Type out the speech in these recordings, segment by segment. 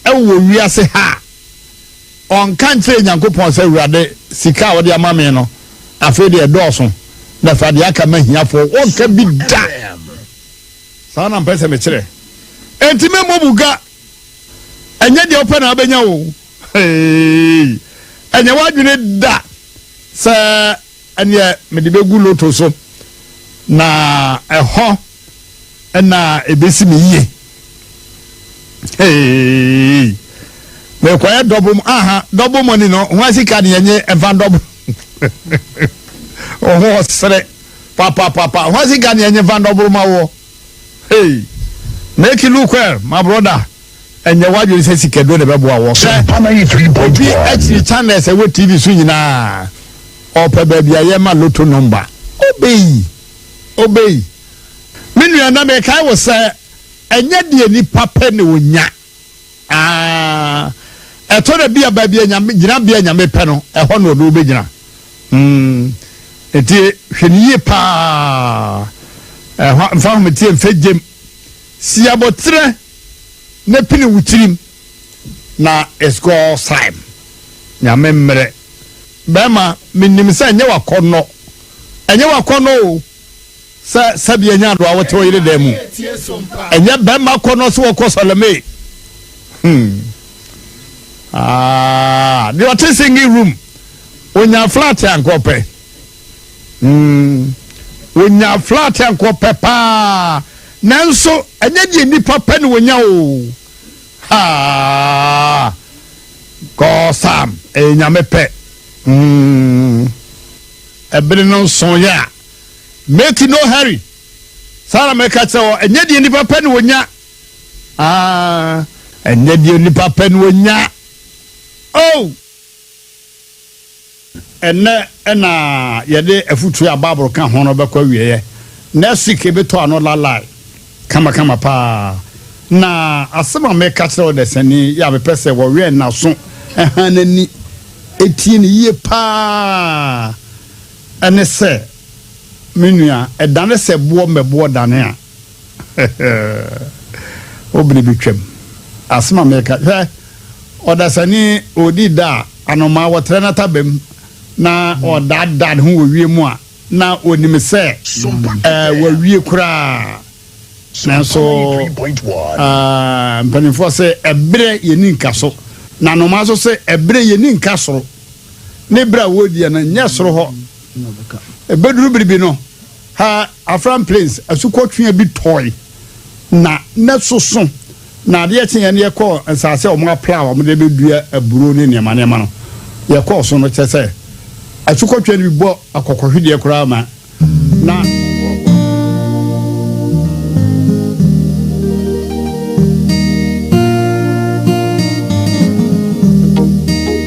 Wɔ wiase ha a, ɔnka nkyerɛ Nyankopɔn sɛ, Awurade, sika a wode ama me no, afei deɛ ɛdɔɔso, na fa deɛ aka ma ahiafoɔ. Ɔnka bi da! Saa na mpɛ sɛ mekyerɛ. Enti memmɔ mu ga. Ɛnyɛ deɛ wopɛ na wobɛnya o. Hei! Ɛnyɛ w'adwene da sɛ ɛneɛ mede bɛgu loto so, na ɛhɔ Ɛna ebesi me yie. Hey. Mekɔyɛ dɔbo mu. Aha, dɔbo mu ni no. Ho asika ne yɛnye ɛva dɔbo. Ɔho ɔsere. Papa, papa. Ho asika ne yɛnye va dɔbo ma wɔ. Hey. Make it look well, my brother. Ɛnyɛ wadwene sɛ sikaduro na ɛbɛboa wɔ. Sɛ obi akyiri channels ɛwɔ TV so nyinaa, ɔpɛ baabi a yɛma loto number. Obey. Obey, me nua na mekae wo sɛ ɛnyɛ deɛ nipa pɛ na ɔnya. Aah, ɛtɔ da bi a baabi a Nyame, gyinabea a Nyame pɛ no, ɛhɔ na ɔno wobɛgyina. Mm, nti hwɛ no yie paa. Ɛhɔ, mfa ahometeɛ mfa gyem. Si aboterɛ na pini wo tirim na it's God's time. Nyame mmerɛ. Bɛɛma, menim sɛ ɛnyɛ wakɔnnɔ. Ɛnyɛ w'akɔnnɔ o sɛ sɛdeɛ ɛnyɛ adoa wote wo yere dan mu. Ɛnyɛ bɛrima akɔnnɔ sɛ wɔkɔ sɔlemee. Hmm. Ah, deɛ ɔte singing room, onya flat a nka ɔpɛ. Hmm. Onya flat a nka ɔpɛ paa. Nanso, ɛnyɛ deɛ nnipa pɛ na onya o. Ha! Kɔɔ Sam, ɛyɛ nyame pɛ. Hmm. Bere no sooe a, meti no hurry. Saa ara na meka kyerɛ wɔn, Ɛnyɛ deɛ nnipa pɛ na wɔnya. Ah, ɛnyɛ deɛ nnipa pɛ na wɔnya. Oh! Ɛnnɛ na yɛde afutuo a Bible ka ho no bɛkɔ awieeɛ. Next week, yɛbɛtɔ ano Lalai. Kama kama paa na asɛm a mɛka kyerɛ wo dasani yɛ a mepɛ sɛ wɔwɛn n'aso han n'ani tie no yie paa ne sɛ me nua ɛdane sɛ boɔ mmɛboɔ dane a wo bere bɛtwam asɛm a mɛka hwɛ ɔdasani ɔdi da a anomaa wɔtrɛ no atabam na ɔdaadaa ne ho wɔ wiem a na wɔnim sɛ wɔawie koraa. Nanso mpanimfoɔ sɛ ɛberɛ yɛni nka so, na nnomaa nso sɛ ɛberɛ yɛni nka soro. Ne berɛ a wɔrediɛ no nyɛ soro hɔ. Ɛbɛduru biribi no, ha Afram Plains asukɔtwea bi tɔe na na soso. Na adeɛ kyeeɛ no yɛkɔɔ nsaase a wɔapla a wɔde bɛdua aburo ne nneɛma nneɛma no, yɛkɔɔ so no, kyerɛ sɛ, asukɔtweaa no bi bɔ akɔkɔhwedeɛ koraa ma na.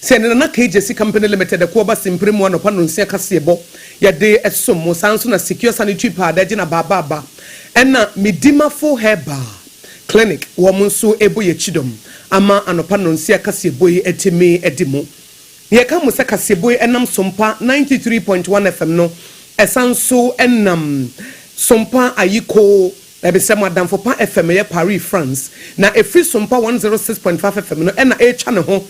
Sɛ ne nana KJC Company Limited ɛko ɔba simpire mu anɔpa nonsia kaseɛbɔ yɛde ɛsom mo saa nso na Secure Sanitary Pad agye na baaba aba ɛna Medimafo Herbal Clinic wɔn nso ɛbɔ yɛ kyidɔm ama anɔpa nonsia kaseɛbɔ yi atumi adi mu Yɛka mo sɛ kaseɛbɔ yi ɛnam Sompa ninety three point one FM no ɛsan nso ɛnam Sompa Ayiko Ɛde sɛ mo adamfo pa FM yɛ Paris, France, na ɛfiri Sompa 106.5 FM no na ɛretwa ne ho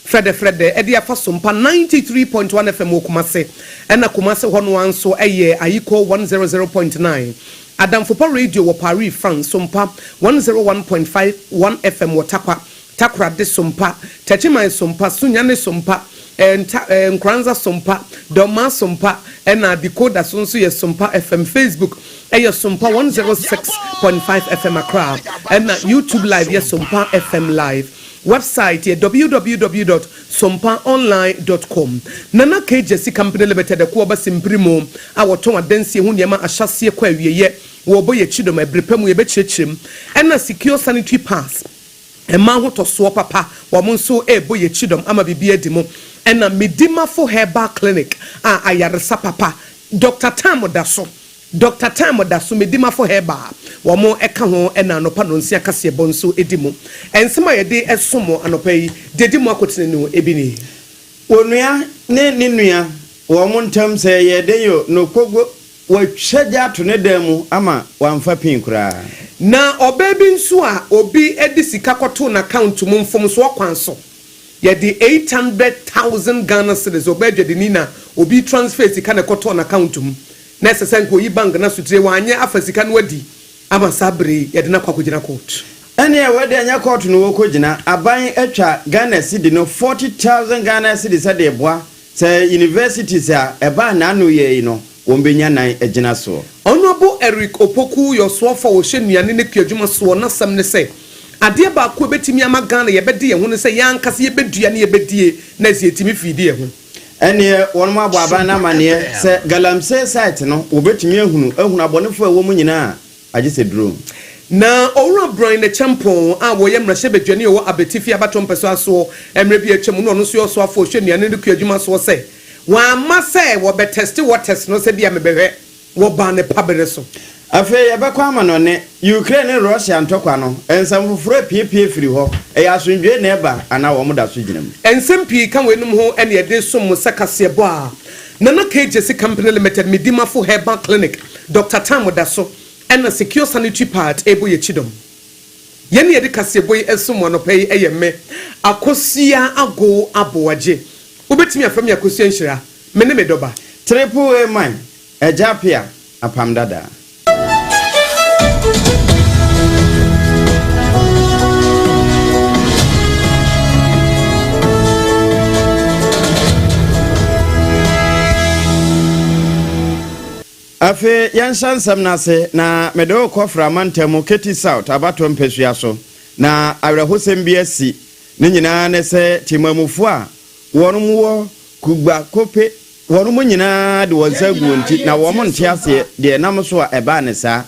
frɛdɛfrɛdɛ de afa Sompa 93.1 FM wɔ Kumase, ɛna Kumase hɔ no ara nso yɛ Ayiko 100.9. Adamfo pa Radio wɔ Paris, France, Sompa 101.5 1 FM wɔ Takwa, Takoradi Sompa, Techiman Sompa, Sunyani Sompa, Nta, Nkoranza Sompa, Dɔmmaa Sompa ɛna Decoder so nso yɛ Sompa FM. Facebook yɛ Sompa one zero six point five FM Accra ɛna YouTube Live yɛ Sompa FM Live. Wɛbsaet yɛ www dot sompa online dot com. Nana Kgyesi Company Limited ɛko ɔba Simpirimo a wɔtɔn adansie ho nneɛma ahyɛaseɛ kɔ awieɛ wɔ Oboye Kyidom ɛberɛ pa mu yɛbɛkyerɛkyerɛ mu ɛna Secure Sanitary Pass. Mma ahotɔsoɔ papa wɔn nso rebɔ yɛn kyidɔm ama biribi adi mo ɛna Medimafo Herbal Clinic a ayaresa papa Doctor Time da so Doctor Time da so Medimafo Herbal wɔn ka ho ɛna anɔpa nɔnsia kaseɛbɔ nso di mo Nsɛm a yɛde som mo anɔpa yi deɛ ɛdi mo akotene no ebi nie. Onua ne ne nua wɔn ntam sɛ yɛn den o, no kogo Wɔatwa gya ato ne dan mu ama wamfa pin koraa. Na ɔbaa bi nso a obi de sika kɔtoo n'account mu mfomsoɔ kwan so, yɛde eight hundred thousand Ghana cedis, ɔbaa dwadini na obi transferee sika na ɛkɔtɔɔ n'account mu, na ɛsɛ sɛ anka ɔyi bank no asotire, wanyɛ afa sika no adi ama saa berɛ yi, yɛde no akɔ akɔgyina court. Ɛnneɛ wei deɛ ɛnyɛ court na wɔkɔgyina, aban atwa Ghana cedi no forty thousand Ghana cedis de reboa Sɛ universities a ɛbaa naano yɛ yi no wɔn bɛnya nan agyina soɔ. Honourable Eric Opoku Yɔsoɔfo a ɔhyɛ nnuane ne kuadwuma soɔ n'asɛm ne sɛ, Adeɛ baako a ɛbɛtumi ama Ghana yɛbɛde yɛn ho ne sɛ yɛn ankasa yɛbɛdua ne yɛbɛdie na ɛsɛ yɛtumi fiidi yɛn ho. Ɛnneɛ wɔnom abɔ aban no amanneɛ sɛ Galamsey site no wɔbɛtumi ahunu ahunu abɔnefoɔ a ɛwɔ mu nyinaa. agye sɛ duro. Na Owura Bryan Acheampong a ɔyɛ mmarahyɛbadwani a ɔwɔ Abetifi abatoɔ mpɛsoa soɔ mmerɛ bi a atwa mu no ɔno nso yɛ ɔsoafoɔ a ɔhwɛ nnuane no kuo adwuma soɔ sɛ wɔamma sɛ wɔbɛtɛste waters no sɛ bi a mebɛhwɛ wɔ ban no pa berɛ so. Afei yɛbɛkɔ amanɔne, Ukraine ne Russia ntɔkwa no, nsɛm foforɔ apiepie firi hɔ, ɛyɛ asomdwoeɛ na ɛba anaa wɔn da so gyina mu? Nsɛm pii ka weinom ho ɛne ɛde som mo sɛ kaseɛbɔ a Nana KJC Company Limited, Medimafo Herbal Clinic, Doctor Tam da so na Secure Sanitary Pad rebɔ yɛn kyidɔm. Yɛn na yɛde kaseɛbɔ yi resom mo anɔpa yi yɛ me, Akosua Agow Aboagye. Wobɛtumi afrɛ me Akosua Nhyira. Me ne me dɔ ba. Triple A man, Agya Apea, Apam Dada. Afei yɛnhyɛ nsɛm no ase, na mede wo rekɔfra mantam mu Katy South abatoɔ mpasua so, na awerɛhosɛm bi asi, ne nyinaa ne sɛ temammufoɔ a wɔn mu wɔ kugba kope wɔn mu nyinaa de wɔn nsa agu wɔn ti, na wɔn nte aseɛ deɛ ɛnam so a ɛbaa no saa,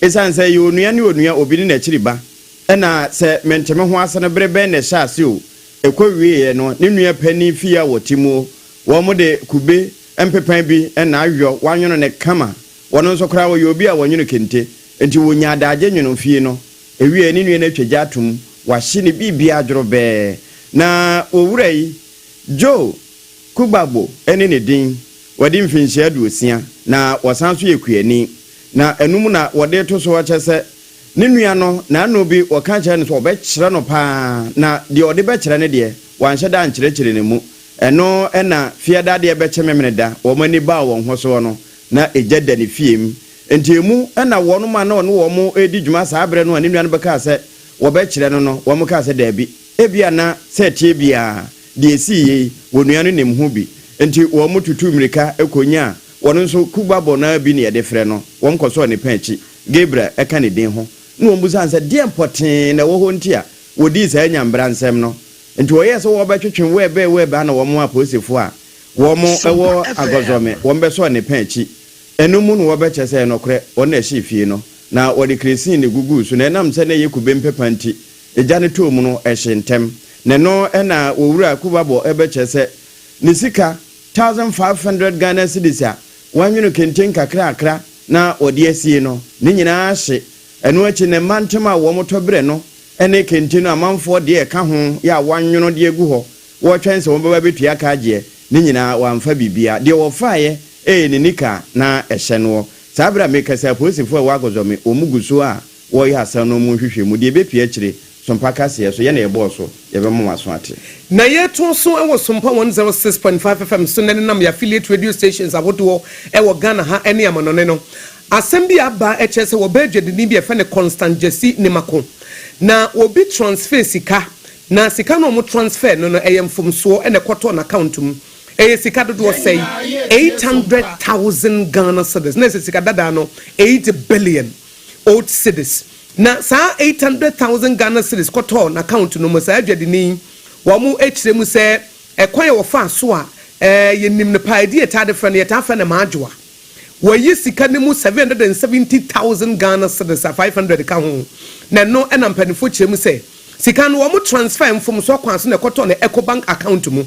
ɛsiane sɛ ɛyɛ onua ne onua, obi ne n'akyiri ba, ɛna sɛ mente me ho ase no bere bɛn na ɛhyɛ ase o, ɛkɔ wieɛ no ne nua panin fie a wɔte mu o, wɔn de kube. Mpepan bi na ayɔ, wɔanwono no kama. Wɔno nso koraa wɔyɛ obi a wɔnwono kente. Enti wɔnya adagye nwono fie no. Ewiei ne nua no atwa gya atom, wahye ne biribiara dworobɛɛ. Na owura yi, Joe Kugbagbo ne ne din, wadi mfinhyia aduosia, na ɔsan nso yɛ kuani. Na anum na wɔde reto so kyɛ sɛ ne nua no n'ano bi wɔka kyerɛ no sɛ ɔbɛkyerɛ no paa, na deɛ ɔde bɛkyerɛ no deɛ, wanhyɛ da ankyerɛkyerɛ ne mu. Ɛno na Fiada adeɛ bɛkye Memeneda, wɔn ani baa wɔn ho soɔ no, na egya da ne fie mu. Enti emu na wɔnom a na ɔne wɔn redi dwuma saa berɛ no a ne nuanom kaa sɛ wɔbɛkyerɛ no no, wɔn kaa sɛ, Dabi, ebia na sɛ ɛteɛ biara deɛ esii yei, onua no nim ho bi. Enti wɔn tutuu mmirika kɔnyaa wɔn nso kubabɔ no ara bi na yɛde frɛ no. Wɔn kɔsɔɔ ne pɛn akyi, Gabriel ɛka ne din ho, na wɔn bisaa no sɛ deɛn pɔtee na ɛwɔ hɔ nti a wɔdii saa nyambra nsɛm no. Nti wɔyɛɛ sɛ wɔɔbɛtwetwe wɛɛbɛɛ wɛɛbɛɛ ana wɔn apolisifo a wɔn wɔ Agɔzɔme wɔn bɛsɔɔ ne pɛn akyi ɛno mu na wɔɔbɛkyerɛ sɛ ɛnɔkorɛ wɔn na ɛhyee fie no na wɔde kresini guguu so na ɛnam sɛ na ɛyɛ kube mpepa nti egya no tɔɔ mu no ɛhyee ntɛm na ɛno na Owura Kubabɔ bɛkyerɛ sɛ ne sika thousand five hundred Ghana cedis a wɔanwono kente nkakrakra na wɔde asie no ne nyinaa hye Ɛno akyi no, mma ntem a wɔtɔ berɛ no ne kente no amanfoɔ deɛ ɛka ho yɛ a wɔanwono de agu hɔ, wɔretwɛn sɛ wɔbɛba abɛtua ka agyeɛ, ne nyinaa wɔamfa biribiara. Deɛ wɔfaeɛ yɛ ne nika a na ɛhyɛ noɔ. Saa berɛ a merekasa yi, apolisifoɔ a ɛwɔ Akozome, wɔn gu so a wɔreyɛ asɛm no mu nhwehwɛmu. Deɛ ɛbɛpue akyire Sompa kaseɛ so, yɛ na yɛbɔɔ so, yɛbɛma w'aso ate. Na yɛto so wɔ Sompa one zero six point five FM so nnɛ denam yɛn affiliate radio stations ahodoɔ wɔ Ghana ha ne amanɔne no. Asɛm bi aba kyerɛ sɛ wɔbaa dwadini bi a yɛfrɛ no Constant Gyasi Nimako. Na obi transfer sika, na sika no a wɔn transfer no no ɛyɛ mfomsoɔ na ɛkɔtɔɔ n'account mu. Ɛyɛ sika dodoɔ sɛn? Eight hundred thousand Ghana cedis, na ɛsɛ sika dadaa no eight billion. old cedis na saa eight hundred thousand Ghana cedis kɔtɔɔ n'account no mu. Saa adwadini yi, wɔkyerɛ mu sɛ ɛkwan a wɔfaa so a yɛnim no paa, ɛdin a yɛtaa de frɛ no, yɛtaa frɛ no Maadwoa. Wɔayi sika no mu seven hundred and seventy thousand Ghana cedis a five hundred ka ho, na ɛno na mpanimfoɔ kyerɛ mu sɛ sika no wɔn transfer mfomsoɔ kwan so na ɛkɔtɔɔ no Ecobank account mu.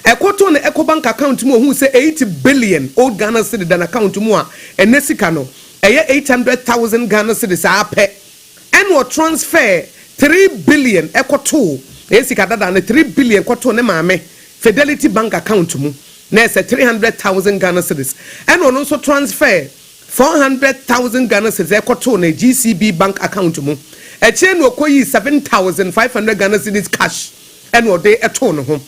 Ɛkɔtɔɔ no Ecobank account mu a ɔhuu sɛ eight billion old Ghana cedi da n'account mu a ɛnɛ sika no Ɛyɛ eight hundred thousand Ghana cedis ara pɛ ɛna ɔ transfer three billion kɔtoo, ɛyɛ sika dada no, three billion kɔtoo ne maame Fidelity bank account mu, na ɛsɛ three hundred thousand Ghana cedis. Ɛna ɔno nso transfer four hundred thousand Ghana cedis ɛkɔtoo ne GCB bank account mu. Akyire no ɔkɔyii seven thousand five hundred Ghana cedis cash ɛna ɔde too ne ho.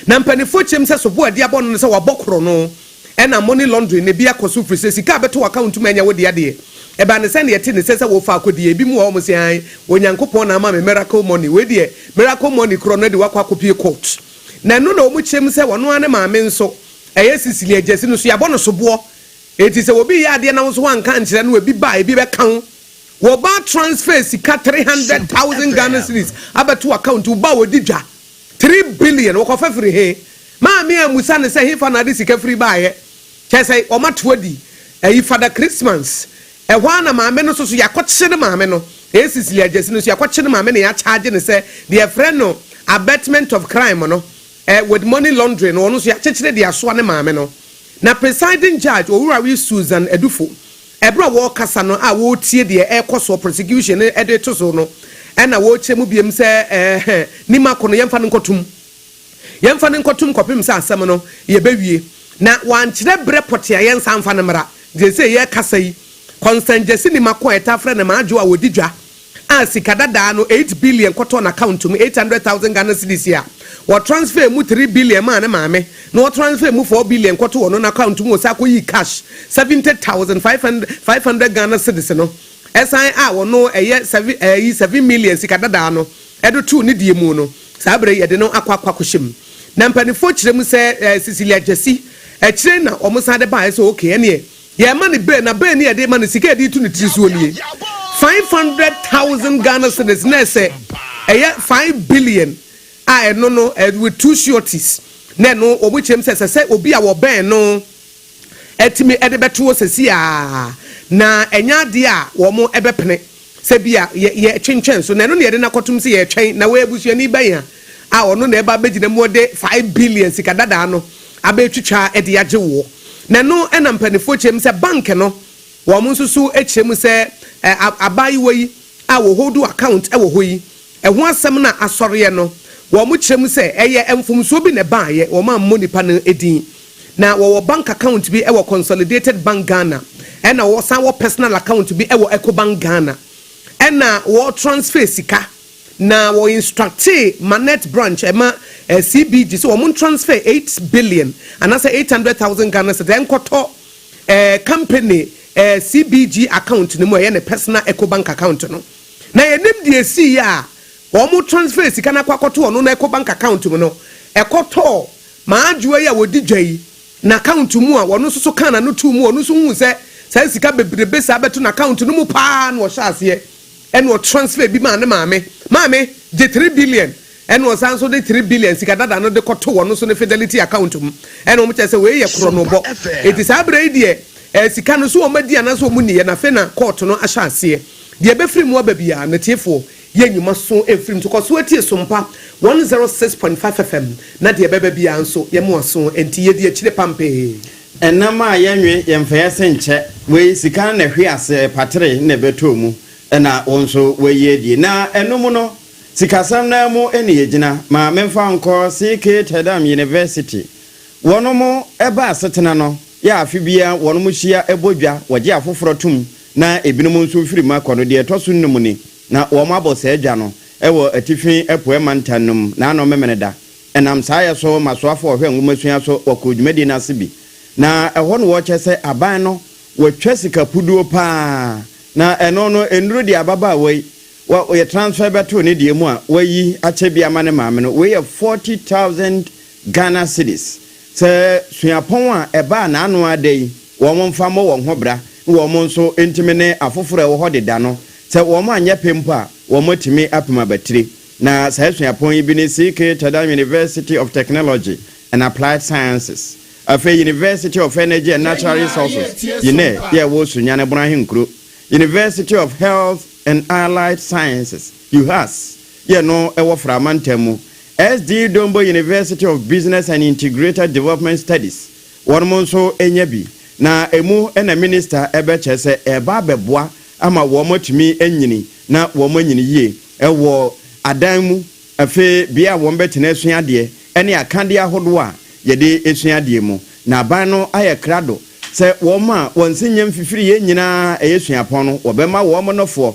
Na mpaninfoɔ kyerɛm sɛ soboɔ a ɛde abɔ no ne sɛ wabɔ korɔno ɛna money laundering ne bi akɔso firi sɛ sika a ɛbɛtɔ w'account ntumi ɛnyɛ wo dea deɛ ɛbaa ne sɛdeɛ ɛte ne sɛ sɛ wofa akɔdi ebi mu wɔ hɔ wɔn se ae Onyankopɔn na ama me miracle money wei deɛ miracle money korɔ no adi wakɔ akɔpie court na ɛno na wɔn kyerɛm sɛ ɔno ara ne maame nso ɛyɛ Cecilia Agyasi no nso yɛabɔ no soboɔ enti sɛ obi yɛ adeɛ na wo nso woanka ankyerɛ no ebi ba a ebi bɛka wo Wɔba transfer sika three hundred thousand Ghana cedis abɛto w'account wo ba a ɔdi dwa Three billion wɔkɔfa firi he? Maame a musa no sɛ hefa na ade sika firi baeɛ? Kyɛɛ sɛ wɔato adi ayi Fada Christmas. Ɛhɔ ara na maame no nso so yɛakɔkyere maame no. Ɛyɛ Cecilia Gyasi no nso yɛakɔkyere no maame na yɛakyaagye no sɛ deɛ yɛfrɛ no abetment of crime no eh, with money laundering no ɔno nso yɛakyekyere de asoa ne maame no. Na Presiding Judge Owurawe Susan Adufo Bere a wɔrekasa no a wɔretie deɛ ɛrekɔ soɔ, prosecution no de reto so no, ɛna wɔrekyerɛ mu biom sɛ, Ɛɛhɛ, nim ako no, yɛmfa no nkɔ tum. Yɛmfa no nkɔ tum kɔpem sɛ asɛm no yɛbɛwie. Na wɔankyerɛ berɛ pɔtee a yɛnsan mfa no mmra. Seesei yɛrekasa yi, Constance Gyasi Nim Ako a yɛtaa frɛ no Maa Dwo a ɔdi dwa a sika dadaa no eight billion kɔtɔɔ n'account mu, eight hundred thousand Ghana cedis a, wɔ transfer mu three billion maa ne maame, na wɔ transfer mu four billion kɔtoo ɔno n'account mu, ɔsan kɔyii cash seventy thousand five hundred five hundred Ghana cedis no san a ɔno ɛyɛ seven ɛyi seven million sika dadaa no ɛde too ne deɛ mu no, saa berɛ yi ɛde no akɔ akɔ akɔhyɛ mu. Na mpaninfoɔ kyerɛ mu sɛ ɛɛ Cecilia Gyasi akyire na wɔsan de baeɛ sɛ okay ɛneɛ, Yɛrema no bɛ na bɛ ne yɛde ma no sika yɛde tu ne tiri soɔ nie five hundred thousand Ghana cedis na ɛsɛ ɛyɛ five billion a ɛno no with two sureties na ɛno wɔn kyerɛm sɛ ɛsɛ sɛ obi a wɔbɛn no ɛtumi ɛde bɛtoɔ sɛsi a na ɛnyɛ adeɛ a wɔn ɛbɛpene. Sɛ bi a yɛ, yɛretwentwɛn so, na ɛno na yɛde no akɔtom sɛ yɛretwɛn na wɔyɛ busuani bɛn a a ɔno na ɛba abɛgyina mu ɔde five billion sika dadaa no abɛtwitwa de agye woɔ. Na ɛno na mpaninfoɔ kyerɛ mu sɛ bank no wɔn nso so kyerɛ mu sɛ ɛ, a, abaayewa yi a wɔ hold account wɔ hɔ yi, ɛho asɛm na asɔreɛ no wɔn kyerɛ mu sɛ ɛyɛ mfomsoɔ bi na ɛbaeɛ, wɔn ammɔ nipa no din. Na wɔwɔ bank account bi wɔ Consolidated Bank Ghana, ɛna wɔsan wɔ personal account bi wɔ Ecobank Ghana. Ɛna wɔ transfer sika, na wɔ instructee Manette branch ɛma CBG sɛ wɔn transfer eight billion anaasɛ eight hundred thousand Ghana cedis ɛnkɔtɔ company CBG account no mu a ɛyɛ ne personal Ecobank account no. Na yɛnim deɛ ɛsiiɛ a wɔn transfer sika no akɔ akɔto ɔno no Ecobank account mu no, ɛkɔtɔɔ Ma adwoa yi a ɔdi dwa yi n'account mu a ɔno nso so kaa n'ano too mu a ɔno nso huu sɛ saa sika bebrebe saa bɛto n'account no mu paa na ɔhyɛ aseɛ ɛna ɔtransfer bi maa ne maame. Maame gye three billion ɛna ɔsan nso de three billion sika dada no de kɔtoo ɔno nso ne Fidelity account mu ɛna wɔn kyerɛ sɛ wei yɛ korɔnobɔ. Enti saa berɛ yi deɛ ɛɛ sika no so wɔn adi anaasɛ wɔn nniiɛ na afei na court no ahyɛ aseɛ. Deɛ ɛbɛfiri mu aba biara no atiefoɔ Yɛ nnwuma so mfiri mu nso kɔ so tie Sompa one zero six point five FM na deɛ ɛbɛba biara nso yɛ mo aso nti yɛ di akyire pampee. Ɛnam a yɛ nwe yɛ mfa yɛ se nkyɛ wei sika no na ɛhwe ase patere na ɛbɛtɔ mu na wo nso wayi adie na ɛno mu no sikasɛm no ara mu na yɛ gyina ma me mfa nkɔ CK Tedam University wɔnom ɛba asetena no yɛ afe biara wɔnom hyia ɛbɔ dwa wɔgye afoforɔ tom na ebinom nso mfiri mu akɔ no, deɛ ɛtɔ so nnum ni, na wɔabɔ saa dwa no wɔ Atifi Apueɛ Mantam no mu, na ano Memeneda. Ɛnam saa yɛ so ma soafoɔ a wɔhwɛ nwomasua so kɔ dwumadie no ase bi, na ɛhɔ na wɔkyɛ sɛ aban no wɔatwa sika puduo pa ara, na ɛno no nnuru deɛ ababaawa yi wɔyɛ transfer bɛtoo ne deɛ mu a wɔayi akyɛ bi ama ne maame no, wei yɛ forty thousand Ghana cedis. Sɛ suapɔn a ɛbaa n'ano ara da yi, wɔmfa mmɔ wɔn ho bra na wɔn nso ntumi ne afoforo a ɛwɔ hɔ deda no. Sɛ wɔanyɛ pɛ mpo a, wɔatumi apem abatiri. Na saa suapɔn yi bi ne CK Tadam University of Technology and Applied Sciences, afei University of Energy and Natural Resources, UNER, a ɛwɔ Sunyani Bon Ahenkuro, University of Health and Allied Sciences, Juhas, yɛ no wɔ Fra mantam mu, SD Dombo University of Business and Integrated Development Studies, wɔnom nso nya bi, na ɛmu na Minista bɛkyerɛ sɛ ɛreba abɛboa ama wɔn atumi anyini na wɔn anyini yie wɔ adan mu, afei bea a wɔn bɛtena asua adeɛ ɛne akadeɛ ahodoɔ a yɛde sua adeɛ mu. Na aban no ayɛ krado sɛ wɔn a wɔn se nyɛ mfifiriɛ nyinaa ɛyɛ suapɔn no wɔbɛma wɔn nofoɔ.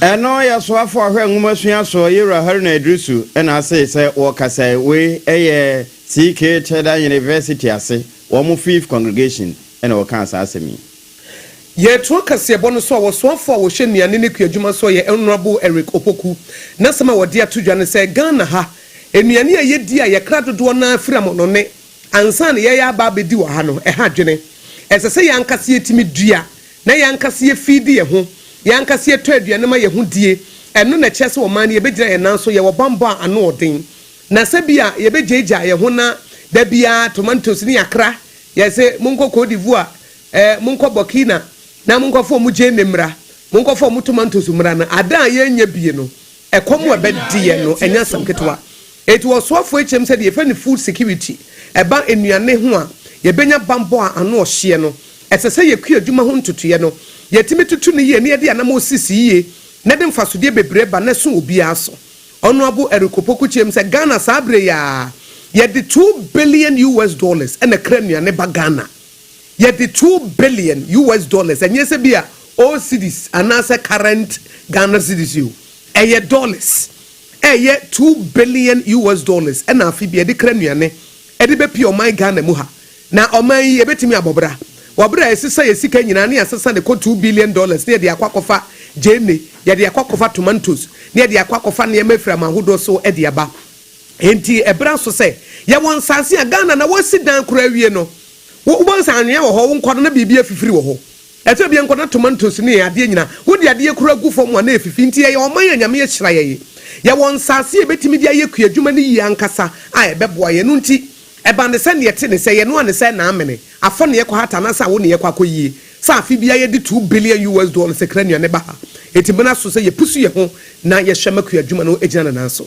Ɛno yɛ soafo a ɔhwɛ nwomasua so Yewura Haruna Iddrisu na asee sɛ wɔkasae, wei yɛ CK Teda University ase, wɔn Fifth Congregation na wɔkaa saa asɛm yi. Yɛtoa kaseɛbɔ no so a ɔsoafo a ɔhwɛ nnuane ne kuadwuma so yɛ Honourable Eric Opoku, n'asɛm a ɔde ato dwa ne sɛ Ghana ha, nnuane a yɛdi a yɛkra dodoɔ no ara firi amonɔne ansa na yɛreyɛ aba abɛdi wɔ ha no, ɛha adwene. Ɛsɛ sɛ yɛn ankasa yɛtumi dua. na yɛn ankasa yɛfeedi yɛn ho, yɛn ankasa yɛtɔ aduane ma yɛn ho die, ɛno na ɛkyerɛ sɛ ɔman no yɛbɛgyina yɛn nan so, yɛwɔ bammɔ a ano yɛ den, na sɛ bi a yɛbɛgyaagyaa yɛn ho na da biara tomatoes ne akra, yɛse monkɔ Côte d'Ivoire, eh, monkɔ Burkina na monkɔfa wɔn gyeene mmra, monkɔfa wɔn tomatoes mmra no, adan a yɛnnya bi no, Ɛkɔm a ɛbɛde yɛn no, ɛnyɛ asɛm ketewa. Enti wɔ ɔsoafoɔ yi kyɛm sɛ deɛ yɛfrɛ no food security, ɛba nnuane ho a, yɛbɛnya bammɔ a ano ɔhyeɛ no. Ɛsɛ sɛ yɛkua adwuma ho ntotoeɛ no. Yɛtumi toto no yie na yɛde anammɔn sisi yie na ɛde mfasodeɛ bebree ba na ɛso obiara so. Honourable Eric Opoku kyɛm sɛ Ghana saa berɛ yi ara, yɛde two billion US dollars na ɛkra nnuane ba Ghana. Yɛde two billion US dollars, ɛnyɛ sɛ bi a old cedis anaasɛ current Ghana cedis o, ɛyɛ dollars, ɛyɛ two billion US dollars na afe biara yɛde kra nnuane de bɛpue ɔman Ghana mu ha. Na ɔman yi ɛbɛtumi abɔ bra? Wɔ berɛ a yɛsesa yɛn sika nyinaa na yɛasesa de kɔ two billion dollars na yɛde akɔ akɔfa gyeene, yɛde akɔ akɔfa tomantos, na yɛde akɔ akɔfa nneɛma afiri aman hodoɔ so de aba. Enti ɛberɛ aso sɛ yɛwɔ nsase a Ghana na wɔasi dan koraa awie no. Wo wobɛhu sɛ anwea wɔ hɔ, wo nkɔ no na biribi afifiri wɔ hɔ. Ɛtɔ da bi a nkɔ na tomantos ne adeɛ nyina wode adeɛ koraa gu fam a na ɛfifi. Enti yɛyɛ ɔman a Nyame ahyira yɛn. Yɛwɔ nsase a yɛbɛtumi de ayɛ kua adwuma no yie ankasa a ɛbɛboa yɛn. Ɛno nti ɛba ne sɛ neɛ ɛte ne sɛ yɛn noa ne sɛ na amene, afɔ na yɛkɔ hata anaasɛ awo na yɛkɔ akɔ yie. Sɛ afe biara yɛde two billion US dollars kra nnuane ba ha. Enti ɛbena so sɛ yɛpusu yɛn ho na yɛhwɛ ma kua adwuma no gyina ne nan so.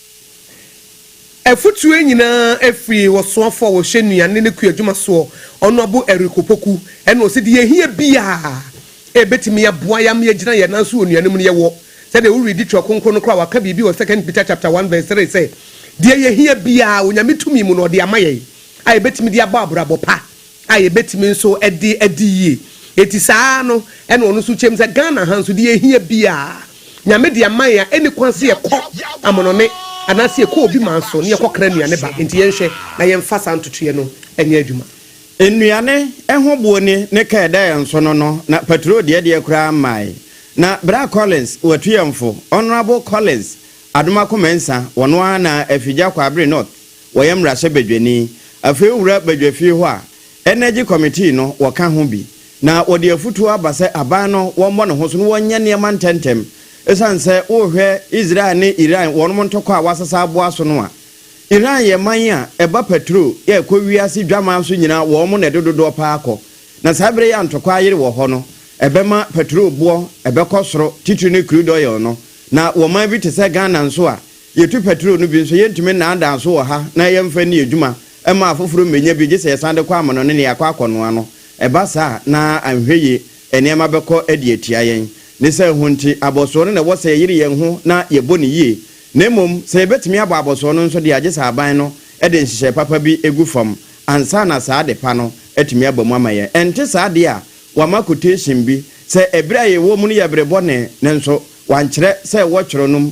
Afotu yi nyinaa firi ɔsoafo a ɔhyɛ nnuane ne kuadwuma soɔ, Ɔnoabo Eric Opoku, ɛna ɔse deɛ yɛhia biara a ɛbɛtumi aboa yɛ ama yɛagyina yɛn nan so wɔ nnuane mu no yɛwɔ. Sɛdeɛ wo readi Twerɛ Kronkron no koraa waka biribi wɔ Second Peter chapter one verse three sɛ, deɛ yɛhia biara Onyame tumi mu na ɔde ama yɛn a ɛbɛtumi de abɔ abrabɔ pa. a yɛbɛtumi nso de adi yie. Enti saa ara no na ɔno nso kyɛm sɛ Ghana ha nso deɛ yɛhia biara Nyame de ama yɛn a ɛnni kwan sɛ yɛkɔ amonone anaasɛ yɛkɔ obi man so na yɛkɔ kra nnuane ba. Enti yɛnhwɛ na yɛmfa saa ntotoeɛ no nyɛ adwuma. Nnuane ho boɔ ni ne kaa ɛda yɛn so no no na patrol deɛ deɛ koraa mmae. Na Bra Collins watu yɛn fo, Honourable Collins Adomakoh Mensah, ɔno ara na Afigya Kwabre North. Wɔyɛ mmarahyɛbadwani. Afei wowura badwafie hɔ a, Energy Committee no, wɔka ho bi, na wɔde afotuo aba sɛ aban no wɔmmɔ ne ho so na wɔnyɛ nneɛma ntɛmntɛm. Ɛsiane sɛ worehwɛ Israel ne Iran wɔnom ntɔkwa a wɔasesa aboa so no a, Iran yɛ man a ɛba paturo a ɛkɔ wiase dwaman so nyinaa wɔnom na ɛde dodoɔ pa ara kɔ. Na saa berɛ yi a ntɔkwa ayere wɔ hɔ no, ɛbɛma paturo boɔ ɛbɛkɔ soro, titire no crude oil no. Na wɔ man bi te sɛ Ghana nso a, Yɛtu pɛtrol no bi nso, yɛrentumi nnaadaa so wɔ ha na yɛmfa nni adwuma mma afoforo mmɛnya bi, gye sɛ yɛsan de kɔ amono ne nea yɛakɔ akɔnoa no. Ɛba saa a, na anhwɛ yie nneɛma bɛkɔ de atia yɛn. Ne saa hu nti, abɔsoɔ no na ɛwɔ sɛ yɛyere yɛn ho na yɛbɔ no yie. Na mmom, sɛ yɛbɛtumi abɔ abɔsoɔ no nso deɛ a, gye sɛ aban no de nhyehyɛe papa bi gu fam ansa na saa ade pa no atumi aba mu ama yɛn. Ɛnte saa deɛ a, wɔama quotation bi sɛ ɛberɛ a yɛwɔ mu no yɛ bere bɔne, nanso wɔankyerɛ sɛ wɔtwerɛ nom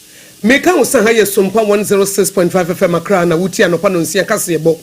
Me ka wo sɛ ha yɛ Sompa one zero six point five FM Accra na wo tie anɔpa nɔnsia kaseɛbɔ.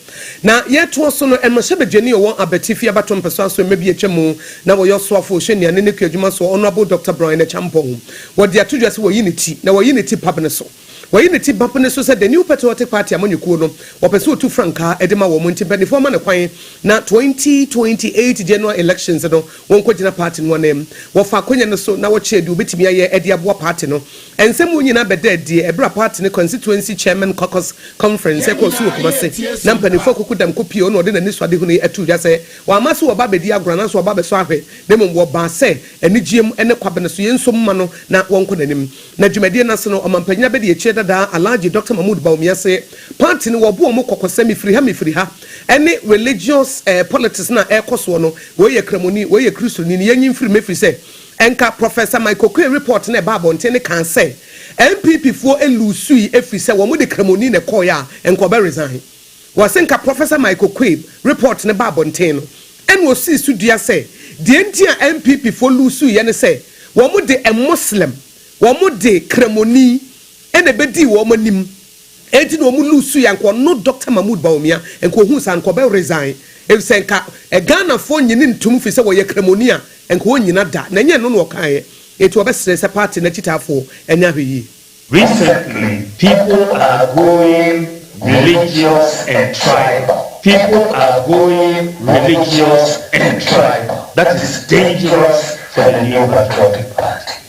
Na yɛ toa so no, mmarahyɛ badwani ɔwɔ Abatifi Abato mpɛsoa aso mma bi atwa mu na wɔyɛ ɔsoafo ɔhyɛ nnuane ne kuadwuma soɔ Honourable Doctor Brian Acheampong. Wɔ de ato dwa sɛ wɔyi ne ti na wɔyi ne ti pabene so. Wɔyi ne ti babene so sɛ the new patriotic party amanyɔkuo no wɔpɛ sɛ ɔtu frankaa de ma wɔn nti mpaninfoɔ ama no kwan na twenty twenty eight general elections no Wɔnkɔgyina paati no ananmu. Wɔfa akonnwa no so na wɔkyerɛ deɛ wɔbɛtumi ayɛ de aboa paati no. Nsɛm wɔ nyinaa bɛdaa adie ɛberɛ a paati no Constituency Chairmen Caucus Conference ɛkɔɔ so wɔ Kumasi na mpaninfoɔ koko dam kɔpie wɔn na wɔde n'anisoadehunu yi ato dwa sɛ wɔamma so wɔba abɛdi agorɔ anaasɛ wɔba abɛsɔ ahwɛ na mmom wɔbaa sɛ anigyeɛ mu ne kwabene so. Yei nso mma no na wɔnkɔ n'anim. Na dwumadie no ase no, Ɔmanpanyin Abadiakyire Dadaa Alhaji Doctor Mahmood Bawumia se paati no wɔbɔ wɔn kɔkɔ sɛ mefiri ha mefiri ha, ɛne religious eh, politics no a ɛrekɔ soɔ no, wei yɛ Kramoni, wei yɛ Kristoni no, yɛnyi mfiri mu ɛfiri sɛ, ɛnka Professor Mike Oquaye report no a ɛbaa abɔnten no kaa sɛ NPP foɔ luusui ɛfiri sɛ wɔn de Kramoni na ɛkɔeɛ a, ɛnka ɔbɛ resign. Wɔse nka Professor Mike Oquaye report no baa abɔnten no, ɛna ɔsii so dua sɛ deɛ nti a NPP foɔ luusuiɛ ne sɛ wɔn de a Muslim, wɔn de Kramoni ɛna ɛbɛdii wɔn anim. Enti na ɔmo lose yɛ anka ɔno Doctor Mahmood Bawumia nka ohuu saa nka ɔbɛ resign efisɛ nka Ghanafoɔ nnye ne ntom firi sɛ ɔyɛ kramoni a nka ɔnnyina da na ɛnyɛ ɛno na ɔkaeɛ enti ɔbɛ srɛ sɛ party no akyitaafoɔ nyɛ ahwɛyie. Recently people are going religious and tribal, people are going religious and tribal, that is dangerous for the New Patriotic Party.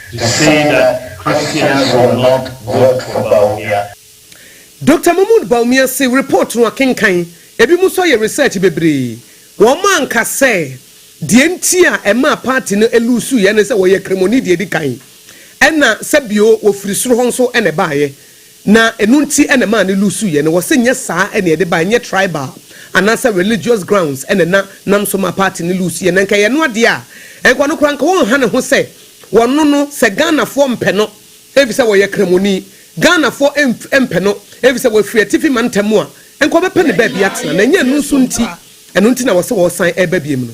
To say that Christians will not vote for Bawumia. Doctor Mahmood Bawumia se report no akenkan, ebinom nso ayɛ research bebree. Wɔanka sɛ deɛ nti a ɛmaa party no luusuiɛ ne sɛ wɔyɛ Kremoni deɛ ɛdi kan, ɛna sɛ bio wɔfiri soro hɔ nso na ɛbaeɛ. Na ɛno nti na ɛmaa no lusuiɛ no. Wɔse nyɛ saa na yɛde baeɛ, nyɛ tribal anaasɛ religious grounds na na nam so maa party no lusuiɛ. Na nka ɛyɛ ɛno adeɛ a, nka ɔno koraa nka ɔnha ne ho sɛ wɔno no, sɛ Ghanafoɔ mpɛ no efisɛ ɔyɛ Kramoni, Ghanafoɔ mf mpɛ no efisɛ wafiri atifi mantam mu a, nka wɔbɛpɛ no baabi atena. Na ɛnyɛ ɛno nso nti, ɛno nti na wɔse wɔresan reba biom no.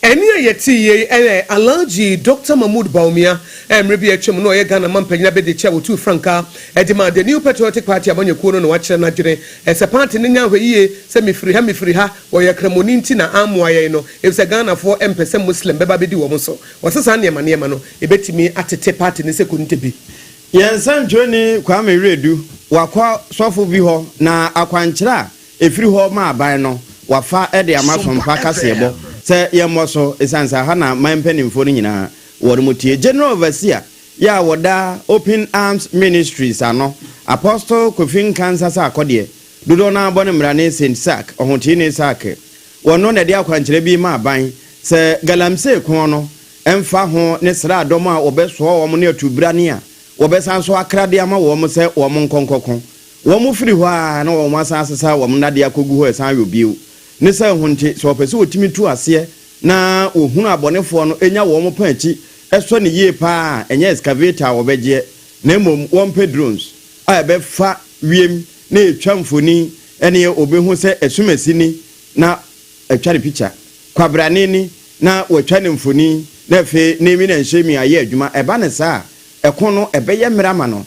Ɛnne a yɛtee yei yɛ Alhaji Dɔkta Mahmood Bawumia, a mmerɛ bi a atwam no ɔyɛ Ghana Mampanyin Abadiakyire a wɔtuu frankaa de maa The New Patriotic Party amanyɔkuo no na wakyerɛ n'adwene sɛ paati no nyɛ ahwɛyie sɛ mefiri ha mefiri ha, wɔyɛ kramoni nti na ammoa yɛn no efisɛ Ghanafoɔ mpɛ sɛ Muslim bɛba abɛdi wɔn so. Ɔse saa nneɛma nneɛma no ɛbɛtumi atete paati no sɛ kɔnte bi. Yɛn nsɛntwerɛni Kwame Wiredu wakɔ sɔfo bi hɔ na akwankyerɛ a Ɛfiri hɔ ma aban no wafa de ama sompa kaseɛbɔ sɛ yɛmmɔ so ɛsiane sɛ aha na man mpanimfoɔ no nyinaa wɔn mu tie. General Overseer yɛ a wɔda Open Arms Ministries ano, Apostle Kofi Nkansah Sarkodie, dodoɔ no ara bɔ no mmara ne Saint Sark, Ɔhoteeni Sark. Wɔno na ɛde akwankyerɛ bi ma aban sɛ galamsey ko no ɛmfa ho ne sraadɔm a wɔbɛsoa wɔn ne atubrane a wɔbɛsan so akra de ama wɔn sɛ wɔn nkɔ nkɔko. Wɔfiri hɔ ara na wɔasan asesa wɔn nnadeɛ akɔgu hɔ resan ayɔ bio. Ne saa hu nti, sɛ wɔpɛ sɛ wɔtumi tu aseɛ na wɔhunu abɔnefoɔ no nya wɔn pã akyi sɔ no yie pa ara a, ɛnyɛ excavator a wɔbɛgyeɛ, na mmom wɔmpɛ drones a ɛbɛfa wiem na ɛtwa mfonin ɛneɛ wɔbɛhu sɛ asumasi ni na atwa no pikya, kwabrane ni na wɔatwa no mfonin, na afei naming and shaming ayɛ adwuma. Ɛba no saa a, ɛko no ɛbɛyɛ mmerɛ ama no.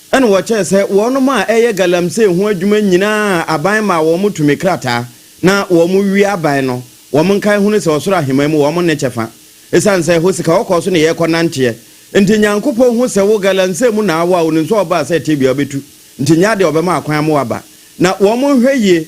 Ɛna wɔkyɛɛ sɛ wɔnom a ɛyɛ galamsey ho adwuma nyinaa aban maa wɔn tumi krataa na wɔn wie aban no wɔn nkae hunu sɛ ɔsoro aheman mu wɔn nne kyɛfa. Esiane sɛ ɛhɔ sika wɔkɔɔ so ne yɛn kɔ nanteɛ nti Nyankopɔn hu sɛ wo galamsey mu na awo a onim sɛ ɔbaa sɛ tebea bɛtu nti nyɛ adeɛ ɔbɛma akwan ama waba na wɔn nhwɛ yie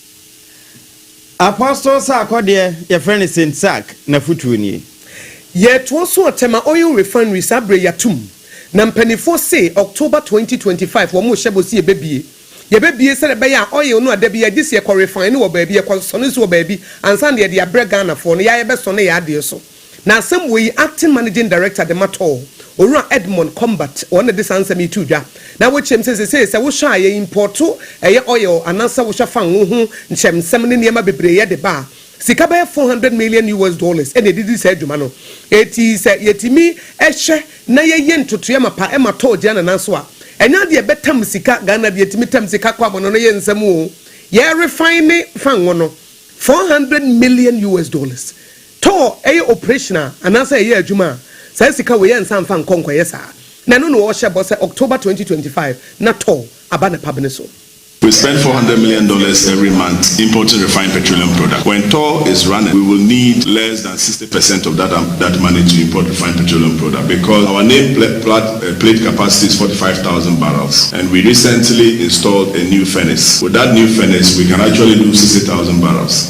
Apostle Sarkodie, yɛfrɛ no Saint Sark, n'afotuo nie. Yɛtoɔ so ɔtɛ ma oil refinery saa berɛ yi atom na mpaninfoɔ se October twenty twenty five wɔn rehyɛ bɔ se yɛbɛbie yɛbɛbie sɛdeɛ ɛbɛyɛ a oil no a dabi yɛgye se yɛkɔ refine no wɔ baabi yɛkɔ sɔ no nso wɔ baabi ansa na yɛde abrɛ Ghanafoɔ no yɛa yɛbɛsɔ no yɛn adeɛ so. Na asɛm wɔ yi Acting Managing Director de ma tɔɔ Owura Edmond Combat, wɔn na de saa nsɛm yi too dwa. Na wɔkyerɛ mu sɛ seesei sɛ wohwɛ a yɛ impɔɔto ɛyɛ oil anaasɛ wohwɛ fango ho nkyerɛmsɛm ne nneɛma bebree yɛ de ba a, sika bɛyɛ four hundred million US dollars na ɛdidi saa adwuma no. Enti sɛ yɛtumi hwɛ na yɛyɛ ntotoeɛ mapa ma tɔɔ gyina ne nan so a, ɛnyɛ adeɛ a ɛbɛtam sika, Ghana deɛ ɛtumi tam sika kɔ amɔnɔno yɛ nsɛm o. Yɛ refine fango no, four hundred million US dollars. Tɔɔ ɛyɛ operation a anaasɛ ɛyɛ adwuma a, saa sika wei ɛnsa mfa nkɔ nkɔyɛ saa. Na ɛno na wɔhyɛ bɔ sɛ October twenty twenty five na tɔɔ aba ne pabene so. We spend four hundred million dollars every month importing refined petroleum product. When tɔɔ is running we will need less than sixty percent of that that money to import refined petroleum product because our name pla plat plate capacity is forty five thousand barrels and we recently installed a new furnace. With that new furnace we can actually do sixty thousand barrels.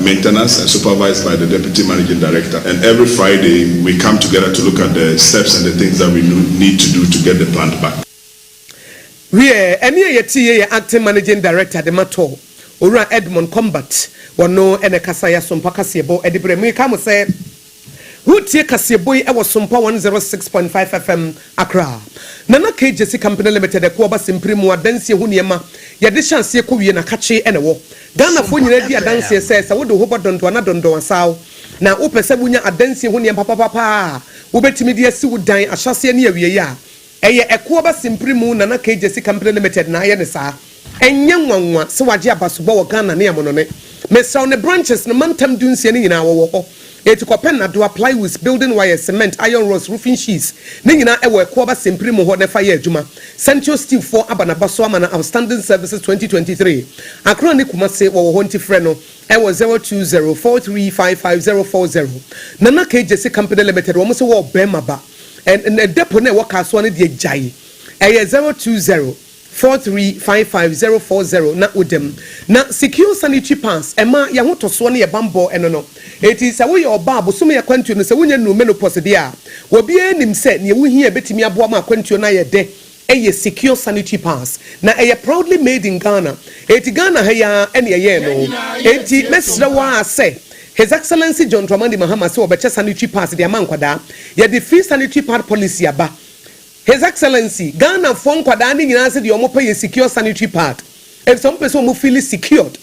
Maintenance and supervised by the Deputy Managing Director and every Friday we come together to look at the steps and the things that we need to do to get the plant back. Wiɛ, ɛnne a yɛteeɛ yɛ Acting Managing Director de ma tɔɔ Owura Edmund Combat, wɔno na ɛkasa yɛ asompa kaseɛbɔ de brɛ mo. Yɛkae mo sɛ. Woretie kaseɛbɔ yi wɔ Sompa 106.5 FM, Accra. Nana K Gyasi Company Limited ɛko aba simpire mu adansie ho nneɛma yɛde hyɛ aseɛ kɔwie na kakye na ɛwɔ. Ghanafoɔ nyinaa di adanseɛ sɛ sɛ wode wo ho bɔ dɔndɔn na dɔndɔn asaw na wopɛ sɛ wonya adansie ho nneɛma papapapa a wobɛtumi de asi wo dan ahyɛaseɛ ne awieeɛ a, Ɛyɛ Ɛkoaba Simpri mu na na KJC Company Limited na ayɛ no saa. Ɛnyɛ nwanwa sɛ wɔagye abasobɔ wɔ Ghana ne Amonone, Mesau ne branches no mantam dunsia no nyinaa wɔwɔ hɔ. Eti kɔpɛ nnadoa, plywoods, building wires, cement, iron rods, roofing sheets, ne nyinaa ɛwɔ Ɛkoaba Simpri mu hɔ na fa yɛ adwuma. Centio Steel foɔ aba n'aba so ama no Outstanding Services 2023. Accra ne Kumasi wɔwɔ hɔ nti frɛ no ɛwɔ 0204355040. Nana KJC Company Limited wɔn se wɔɔ bɛɛma ba. Ɛ ɛ depo no a ɛwɔ Kasoa no deɛ gyae. Ɛyɛ zero two zero four three five five zero four zero na woda mu. Na Secure Sanitary Pass ɛma yɛn ahotɔsoɔ ne yɛn bammɔ ɛno no. Enti sɛ woyɛ ɔbaa a bosome akwantuo no sɛ wonnya nnuruu menopause deɛ a, obiara nim sɛ deɛ wohia a ɛbɛtumi aboa ma akwantuo no ayɛ dɛ Ɛyɛ secure sanitary pass na ɛyɛ proudly made in Ghana enti Ghana ha yi ara na yɛyɛɛ no enti mɛsrɛ wo ara sɛ His Excellency John Dramani Mahama sɛ wɔbɛkyɛ sanitary pass de ama nkwadaa. Yɛde free sanitary pad policy aba His Excellency, Ghanafoɔ nkwadaa no nyinaa sɛdeɛ wɔpɛ yɛ secure sanitary pad efisɛ wɔpɛ sɛ wɔn feeli secured.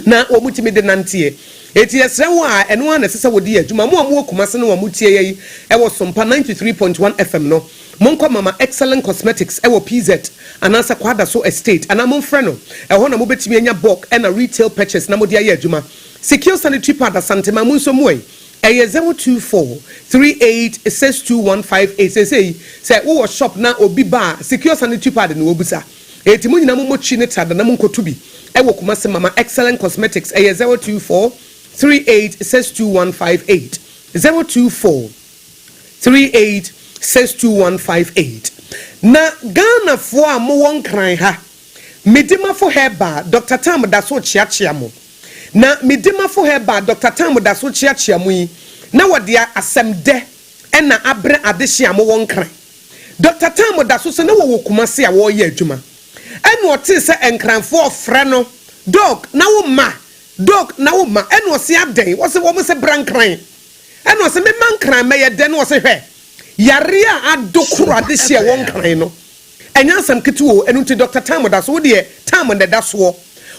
na wɔtumi de nanteɛ. Enti yɛsrɛ wo a, ɛno ara na ɛsɛ sɛ wode yɛ adwuma. Mo a mowɔ Kumasi no a motie yɛ yi wɔ Sompa ninety three point one FM no, monkɔ Mama Excellent Cosmetics wɔ PZ anaasɛ Kwadaso Estate anaa momfrɛ no. Ɛhɔ na mobɛtumi anya bulk na retail purchase na mode ayɛ adwuma. Sikio Sanitary Pad Asantema, mo nso mmuai. Ɛyɛ zero two four three eight six two one five eight. Seesei sɛ wowɔ shop na obi ba a, Sikio Sanitary Pad na wɔbisa. Enti mo nyinaa mo mmɔ twi ne trada na monkoto bi wɔ Kumasi mama excellent cosmetics ɛyɛ zero two four three eight six two one five eight zero two four three eight six two one five eight na Ghana foɔ a mowɔ nkran ha me dimafo herbal Doctor Tam da so kyeakyea mo na me dimafo herbal Doctor Tam da so kyeakyea mo yi na wɔde asɛm dɛ ɛna abrɛ adehye a mowɔ nkran. Dɔkta Tam da so sɛ na wɔwɔ Kumasi a wɔreyɛ adwuma ɛna ɔtee sɛ Nkranfoɔ ɔfrɛ no Dɔg na wo mma, Dɔg na wo mma ɛna ɔse adɛn? Ɔse wɔn se bra Nkran ɛna ɔse me mma Nkran mɛyɛ dɛn? Na ɔse hwɛ, yareɛ a adokoro adehyeɛ wɔ Nkran no ɛnyɛ asɛm ketewa o, ɛno nti Dɔkta Tam da so, wo deɛ Tam na ɛda soɔ,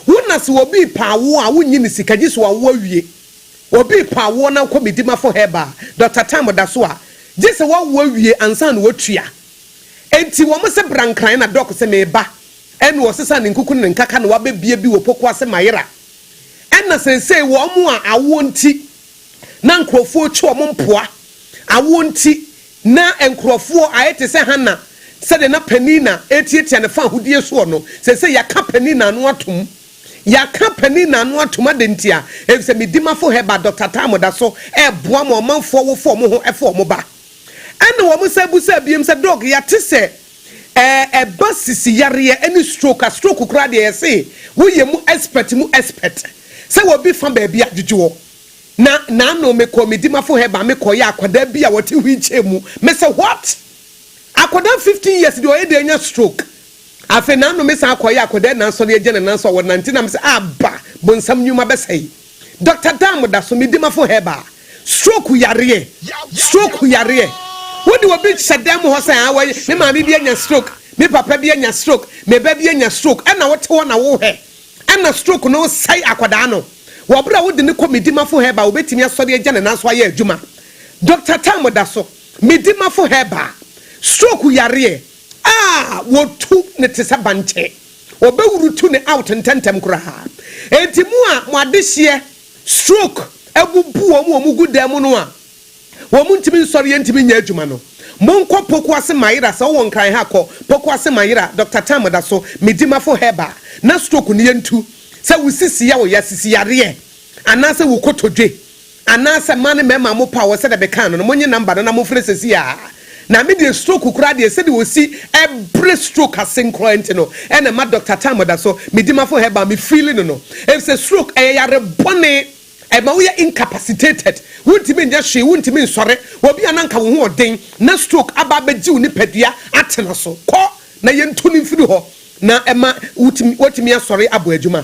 wo na se obi repaa wo a wonnye no sika gyese wawo awie. Obi repɔ awoɔ na wokɔ Midimafo Herbal Doctor time da so a, gye sɛ woawo awie ansa na woatua. Enti wɔn se bra nkran na Doc se meba. Ɛna ɔsesa ne nkuku ne ne nkaka na wabɛbie bi wɔ poko ase mayera. Ɛna seesei wɔn a awoɔ nti na nkurɔfoɔ rekyi wɔn mpoa, awoɔ nti na nkurɔfoɔ ayɛ te sɛ Hannah sɛdeɛ na Peninnah retiatia ne faahodie soɔ no, seesei yɛaka Peninnah ano atom Yɛaka panin no ano atom adɛn nti a? Efisɛ me dimafo Heber dɔ tata a moda so reboa mo ɔmanfo a wɔfoa mo ho foa mo ba. Ɛnna wɔsan bisaa bio sɛ, Doc, yɛate sɛ ɛɛ ɛba sisi yareɛ ne stroke a, stroke koraa deɛ yɛse woyɛ mu expert mu expert, sɛ obi fa baabi a, gyegye hɔ. Na n'ano, mekɔɔ me dimafo Heber, mekɔyɛɛ akwadaa bi a ɔte wheelchair mu. Mese, What? Akwadaa fifteen years deɛ ɔyɛ dɛn anya stroke? Afei n'anome san kɔe a kɔdae nanso na yɛagya no nan so a wɔnante na mese aba bonsam nnwuma bɛsɛe. Doctor Dan mo da so, me dimafo Heber. Stroke yareɛ, stroke yareɛ. Wode obi hyɛ dan mu hɔ sɛ aa wei me maame bi anya stroke, me papa bi anya stroke, me ba bi anya stroke ɛna wote hɔ na wohwɛ ɛna stroke no sɛe akwadaa no. Wɔ bere a wode no kɔ me dimafo Heber a obetumi asɔre agya ne nan so ayɛ adwuma. Doctor Dan mo da so, me dimafo Heber. Stroke yareɛ. A wɔtu no te sɛ bankye. Wɔbɛwurutu no out ntɛmntɛm koraa. Enti mo a mo adehyeɛ, stroke, abubu wɔn a wɔgu dan mu no a wɔntumi nsɔreɛ ntumi nyɛ adwuma no, monkɔ Pokuase Mayera, sɛ wowɔ Nkran ha a kɔ Pokuase Mayera, Dɔkta Tam da so, Medimafo Herbal, na stroke no yɛntu. Sɛ wo sisi ya wo ya, sisi yareɛ, anaasɛ wo kotodwe. Anaasɛ ma ne mɛma mo power sɛdeɛ mekaa no no monye number no na mofrɛ sesii aa na me deɛ stroke koraa deɛ sɛdeɛ osi brɛ stroke ase nkoraa nti no ɛna ɛma Doctor Tam da so medi mafo herbal me feeli no no efisɛ stroke ɛyɛ yare bɔne ɛma woyɛ incapacitated wontumi nyɛ hwee wontumi nsɔre obi a na nka wo ho ɔden na stroke aba abɛgye wo nipadua atena so kɔ na yɛntu no mfiri hɔ na ɛma wotumi asɔre abɔ adwuma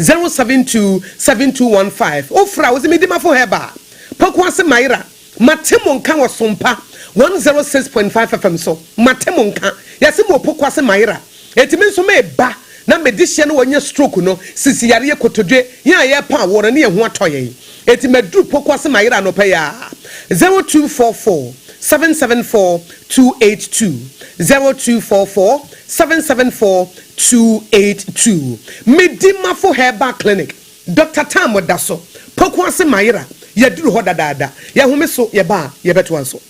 zero seven two seven two one five Ofra a wodze me Dimafo Herbal, Pokuase Mayera, Mate mo nka wɔ Sompa one zero six point five FM so. Mate mo nka. Yɛse mowɔ Pokuase Mayera. Enti me nso meba na me dehyeɛ no wɔanya stroke no sisi yareɛ kotodwe yɛn a yɛrepa awoɔ no ne yɛn ho atɔ yɛn. Enti maduru Pokuase Mayera anɔpa yi ara zero two four four seven seven four two eight two zero two four four Seven seven four two eight two Me Dimafo Herbal Clinic Doctor Tam Ɔda so poko ase Mayera yɛaduru hɔ dadaada Yɛhome so yɛba a yɛbɛtoa nso.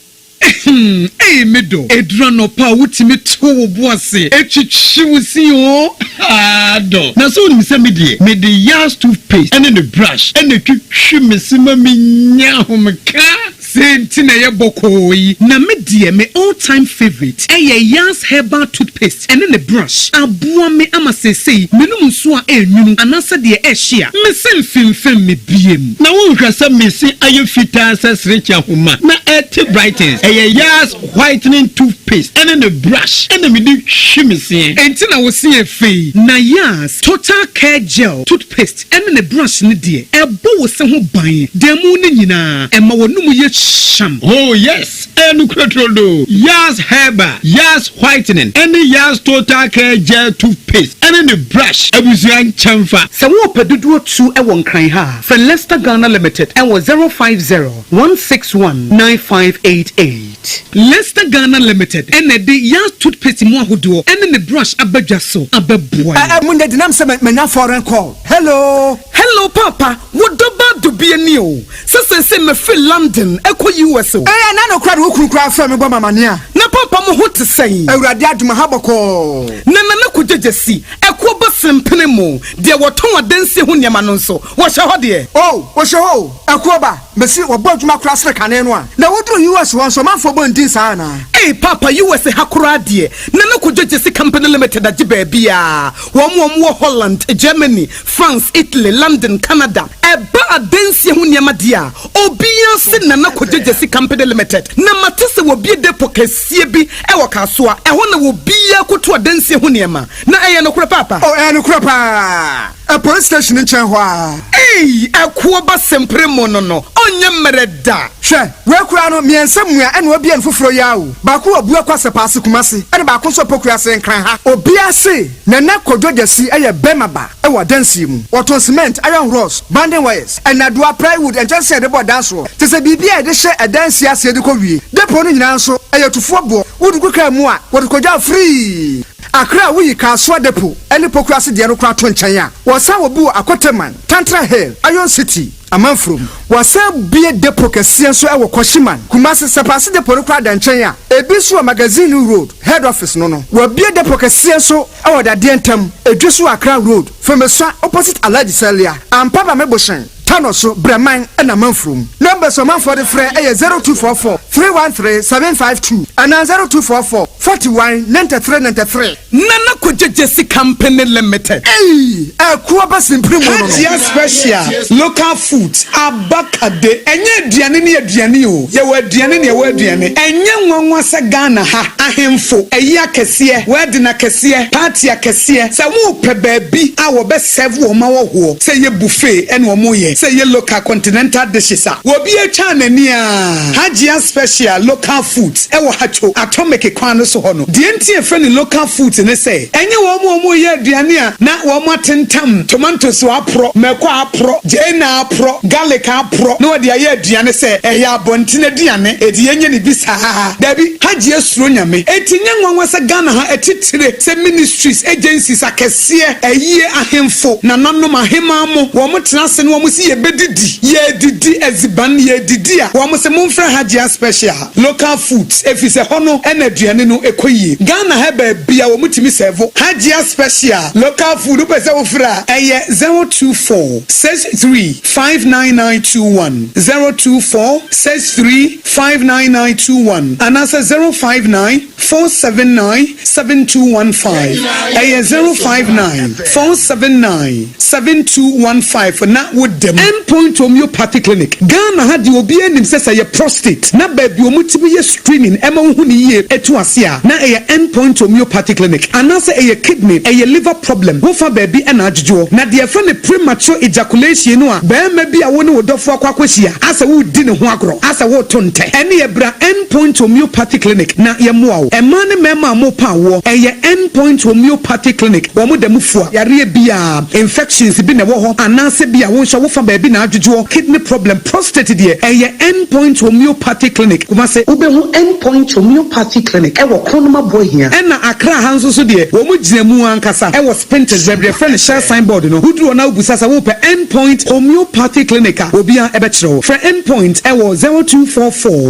Ehem ei me dɔ Ɛduru anɔpa a wotumi to wo bo ase twitwi wo se oo haa dɔ Na sɛ wonim sɛ me deɛ mede Yaz toothpaste ne ne brush na ɛtwitwi me se ma menya ahomeka Dɛn nti na ɛyɛ bɔkɔɔ yi? Na me deɛ me all time favourite ɛyɛ Yars herbal toothpaste ɛne ne brush. Aboa me ama seesei menom nsuo a ɛnwunu anaasɛ deɛ ɛhye a, mese mfemfem me biem. Na wonhwɛ sɛ me se ayɛ fitaa sɛ serekye ahoma na ɛte brightens. Ɛyɛ Yars whitening toothpaste ɛne ne brush ɛna mede twi me se. Ɛnti na wo se yɛ fɛ yi? Na Yars total care gel toothpaste. Paste ɛne ne brush no deɛ ɛbɔ wo se ho ban dan mu no nyinaa ɛma w'anum yɛ hyam. Oh yes ɛyɛ nokorɛ trodoo, Yars herbal, Yars whitening ɛne Yars total care gel toothpaste ɛne ne brush abusua nkyɛnfa. Sɛ wo pɛ dodoɔ tu wɔ nkran ha a, frɛ Lester Ghana Limited wɔ zero five zero, one six one, nine five eight eight. Lester Ghana Limited na ɛde Yaz toothpaste mu ahodoɔ ne ne brush aba dwa so abɛboa yɛn. Ɛɛ munya denam sɛ manya foreign call hello. Hello paapa wo dɔ baa dɔ bi ani o sɛ seesei mafiri London ɛkɔ US o. Ɛɛ na nokorɛ de wo kunu koraa frɛ me bɔ me amaneɛ a. Na paapa mo ho te sɛn. Awurade adom aha bɔkɔɔ. Na Nana Kwadwo Gyasi ɛkoɔ ba Sempene mo deɛ wɔtɔn adansie ho nneɛma no nso wɔhyɛ hɔ deɛ. Oh wɔhyɛ hɔ o ɛkoɔ ba. Mese wɔbɔ adwuma koraa sene kane no a na woduru US hɔ nso ɔmanfoɔ bɔ ndin saa anaa? Ei paapa US ha koraa deɛ na ne kɔdwo gyesi company limited agye baabiaa wɔn wɔn wɔ Holland, Germany, France, Italy, London, Canada ɛba adansie ho nneɛma deɛ a obiaa se na na kɔdwo gyesi company limited na mate se wɔbie depo kɛsie bi wɔ Kasoa ɛhɔ na wɔbiaa kɔtu adansie ho nneɛma na ɛyɛ nokorɛ paapa? Oh ɛyɛ nokorɛ paa. Ɛpoan station nkyɛn hɔ aa. Eii ɛkoɔ ba sempere mo no no ɔnyɛ mmerɛ da. Hwɛ wei koraa no miɛnsa mua ɛna wabie no foforɔ yi ara o baako wɔ Buakwa Asɛpaase Kumasi ɛna baako nso Opokuase Nkranha obia se Nana Kodwo Gyasi ɛyɛ bɛɛma ba ɛwɔ adansie mu wɔtɔn cement iron rods banding wires ɛnadoa plywood nkyɛnsee a yɛde bɔ ɛdan soɔ tesɛ biribi a yɛde hyɛ ɛdansie aseɛ de kɔ wie depot no nyinaa nso ɛyɛ tufoɔ boɔ wodugu kaa mu a wɔde kɔgya firii Akra a woyi Kasoa Depot ne Pokuase deɛ no koraa to nkyɛn a, wɔsan wɔ bi wɔ Akoteman, Tantra Hill, Iron City, Amanfurom. Wɔasan bue depot kɛseɛ nso wɔ Kwahyiman, Kumasi. Sapase Depot no koraa da nkyɛn a, ebi nso wɔ Magazine Road, Head Office no no. Wɔabue depot kɛseɛ nso wɔ Dadeɛ ntam, Edwe so wɔ Akra Road, Fomesua, opposite Alhaji Salia, Ampaba Meboshen. Tano so brɛ man na manfrom. Numbers ɔmanfoɔ de frɛ yɛ 0244 313 752 anaa 0244 41 93 93. Nana Kwadwo Gyesi Company Limited. Ei! Ɛkuo ba simpiri mu no no. Hajia Special Local Foods, Abakade. Ɛnyɛ aduane ne aduane o, yɛwɔ aduane ne ɛwɔ aduane. Ɛnyɛ nwanwa sɛ Ghana ha, ahemfo, ayi akɛseɛ, wedding akɛseɛ, party akɛseɛ, sɛ worepɛ baabi a wɔbɛ. serve wɔn ma wɔhoɔ, sɛ ɛyɛ buffet ɛna wɔn yɛ, sɛ ɛyɛ local continental dishes a obi atwa n'ani aa Hajia special local foods ɛwɔ Hatcho Atomic kwan no so hɔ no, deɛ nti yɛfrɛ no local foods ne sɛ ɛnyɛ wɔn a wɔn yɛ aduane a na wɔn atentam tomatoes a wɔaporɔ, mako a aporɔ, gyeene a aporɔ, garlic a aporɔ na wɔde ayɛ aduane sɛ ɛyɛ abɔnten aduane enti yɛnyɛ no bi saa aa, daabi Hajia suro Nyame, enti ɛnyɛ nwanwa sɛ Ghana ha atitire sɛ ministries, agencies akɛseɛ. teɛ, ayie ahemfo, nananom, aheman mo, wɔn tena ase na wɔn se yɛbɛdidi, yɛredidi adziban, yɛredidi a, wɔn se momfrɛ ha Gyaa Special, Local Foods, ɛfiri sɛ hɔ no na aduane no kɔ yie. Ghana ha baabi a wɔtumi sɛɛvo ha Gyaa Special, Local Food, wopɛ sɛ wofrɛ a, ɛyɛ zero two four six three five nine nine two one, zero two four six three five nine nine two one, anaasɛ zero five nine. four seven nine seven two one five ɛyɛ zero five nine four seven nine seven two one five na wo da mu. M point homeopathy clinic Ghana ha deɛ obiara nim sɛ sɛ ɛyɛ prostate na baabi wɔn tumi yɛ screening ɛma wohu no yie ɛtu ase a na ɛyɛ M point homeopathy clinic anaasɛ ɛyɛ kidney ɛyɛ liver problem wofa baabi ɛna adwodwoɔ na deɛ yɛfrɛ no premature ejaculation no a barima bi a wo ne wo dɔfoɔ akɔ akɔhyia asɛ woredi ne ho agorɔ asɛ woreto ntɛ ɛneɛ bra M Endpoint Homeopathy Clinic na yɛmmoa wo. Mmaa ne mmarima a wɔrepɛ awoɔ, ɛyɛ Endpoint Homeopathy Clinic. Wɔn da mu fua yareɛ biara, infections bi na ɛwɔ hɔ anaasɛ bi a wonhwɛ wo fa baabi na adwodwoɔ, kidney problem, prostate deɛ, ɛyɛ Endpoint Homeopathy Clinic, Kumasi. Wobɛhu Endpoint Homeopathy Clinic wɔ Kronoma Buahia. Ɛna Accra ha nso so deɛ, wɔn gyina mu ankasa ɛwɔ Spintex baabi yɛfrɛ no Shell sign board no. Woduru hɔ na wobisa sɛ worepɛ Endpoint Homeopathy Clinic a, obiara bɛkyerɛ wo. Frɛ Endpoint ɛwɔ zero two four four.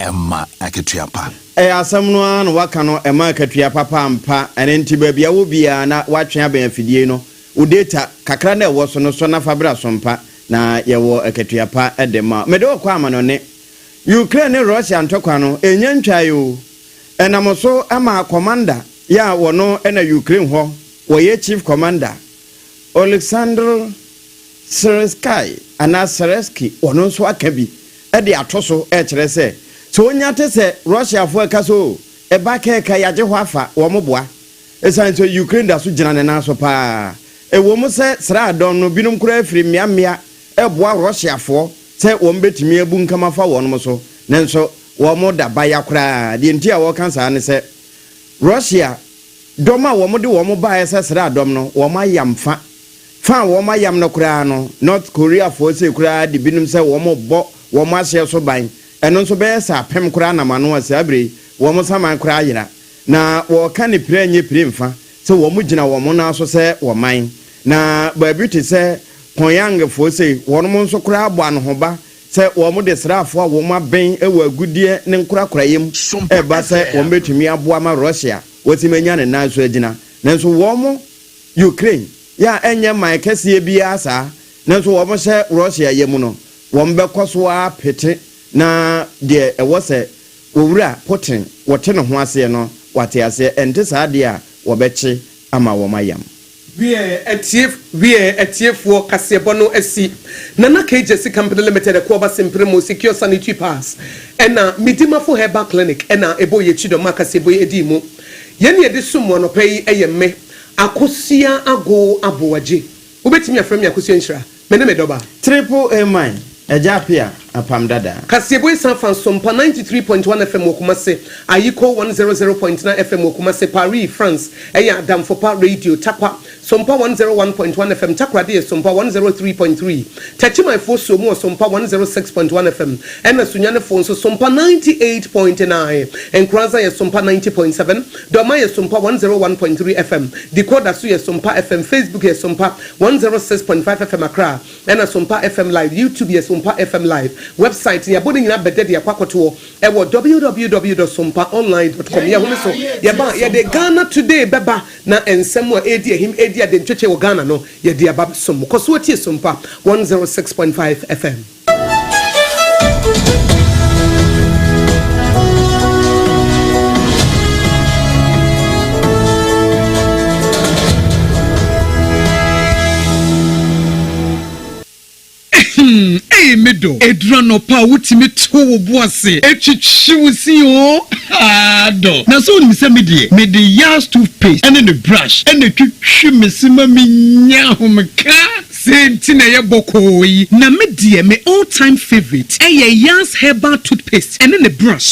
ɛmma akatua pa. Ɛyɛ asɛm no ara na woaka no, ɛmma akatua papa ampa. Ɛno nti baabi a wowɔ biara na woatwe abɛn afidie no, wo data kakra no a ɛwɔ so no sɔ na fa bra sompa na yɛwɔ akatua pa de ma wo. Mede wo kɔ amanɔne. Ukraine ne Russia ntɔkwa no, ɛnnya ntwaeɛ o. Ɛnam so ma commander yɛ a ɔno na Ukraine hɔ wɔyɛ chief commander, Oleksandr. Srensky anaa Seresky, ɔno nso aka bi de ato so rekyerɛ sɛ, sɛ onya te sɛ Russiafo a ɛka sɛ oo, ɛba ka ɛka, yɛagye hɔ afa, wɔn boa, esiane sɛ Ukraine da so gyina ne nan so paa. Ɛwom sɛ sraadɔm no binom koraa firi mmeammea reboa Russiafoɔ sɛ wɔbɛtumi abunkam afa wɔn so, nanso wɔda baya koraa. Deɛ nti a wɔka saa ne sɛ, Russia dɔm a wɔde wɔn baeɛ sɛ sraadɔm no, wɔayam fa. Fa a wɔn ayam no koraa no, North Koreafoɔ sei koraa de binom sɛ wɔrebɔ wɔn ahyeɛ so ban, ɛno nso bɛyɛ sɛ apem koraa nam ano a saa berɛ yi wɔn saman koraa ayera. Na wɔreka ne pira nyɛ pire mfa sɛ wɔgyina wɔn nan so sɛ wɔman. Na baabi te sɛ Pyongyangfoɔ sei, wɔnom nso koraa bɔ anohoba sɛ wɔde sraafoɔ a wɔn abɛn wɔ agudeɛ ne nkorakoraeɛ mu reba sɛ wɔbɛtumi aboa ma Russia wɔtumi anya ne nan so agyina. Nanso wɔn. Ukraine yɛ a ɛnyɛ man kɛseɛ biara saa, nanso wɔhyɛ Russia yam no, wɔbɛkɔ so ara pete na deɛ ɛwɔ sɛ Owura Putin wɔte ne ho aseɛ no, wate aseɛ, ɛnte saa deɛ a wɔbɛkye ama wɔn ayam. Wiɛɛ atie Wiɛɛ atiefoɔ kaseɛbɔ no asi Nana KJC Company Limited ɛko aba Simpere mu Secure Sanitary Pass ɛna Midimafo Herbal Clinic ɛna ɛbɔɔ yɛn akyi dɔm a kaseɛbɔ yi ɛdii mu. Yɛn na yɛde som mo anɔpa yi yɛ me Akosua Agow Aboagye. Wobɛtumi afrɛ me Akosua Nhyira. Me ne me dɔba. Triple Amen Agya Apea Apam Dada. Kaseɛbɔ Esan Afa Nso Mpa ninety three point one FM wɔ Kumase, Ayiko one zero zero point nine FM wɔ Kumase, Paris, France, Ɛyɛ Adamfopa Radio, Tarkwa, Sompa one zero one point one FM Takoradi yɛ Sompa one zero three point three, Takyimanfoɔ suo mu wɔ Sompa one zero six point one FM, ɛna Sunyanefoɔ nso Sompa ninety eight point nine, Nkoranza yɛ Sompa ninety point seven, Dɔma yɛ Sompa one zero one point three FM, Decoder so yɛ Sompa FM, Facebook yɛ Sompa one zero six point five FM Accra, ɛna Sompa FM Live, YouTube yɛ Sompa FM Live, Website yɛabɔ ne nyinaa bɛdɛ de akɔ akɔtoɔ ɛwɔ www dot sompa online dot com, yɛhome so yɛba a yɛde Ghana Today bɛba. Na nsɛm a ɛredi ahim redi adentwetwe wɔ Ghana no, yɛde aba abɛsom mo. Kɔ so tie Sumpa one zero six point five FM. Ehem ei me dɔ. Eduru anɔpa a wotumi tew wo bo ase twitwi wo se oo haa dɔ. Na sɛ wonim sɛ me deɛ mede Yars tooth paste ɛne ne brush ɛna ɛtwitwi me se ma me nya ahomeka. Sei nti na ɛyɛ bɔkɔɔ yi. Na me deɛ me all time favourite ɛyɛ Yars herbal tooth paste ɛne ne brush.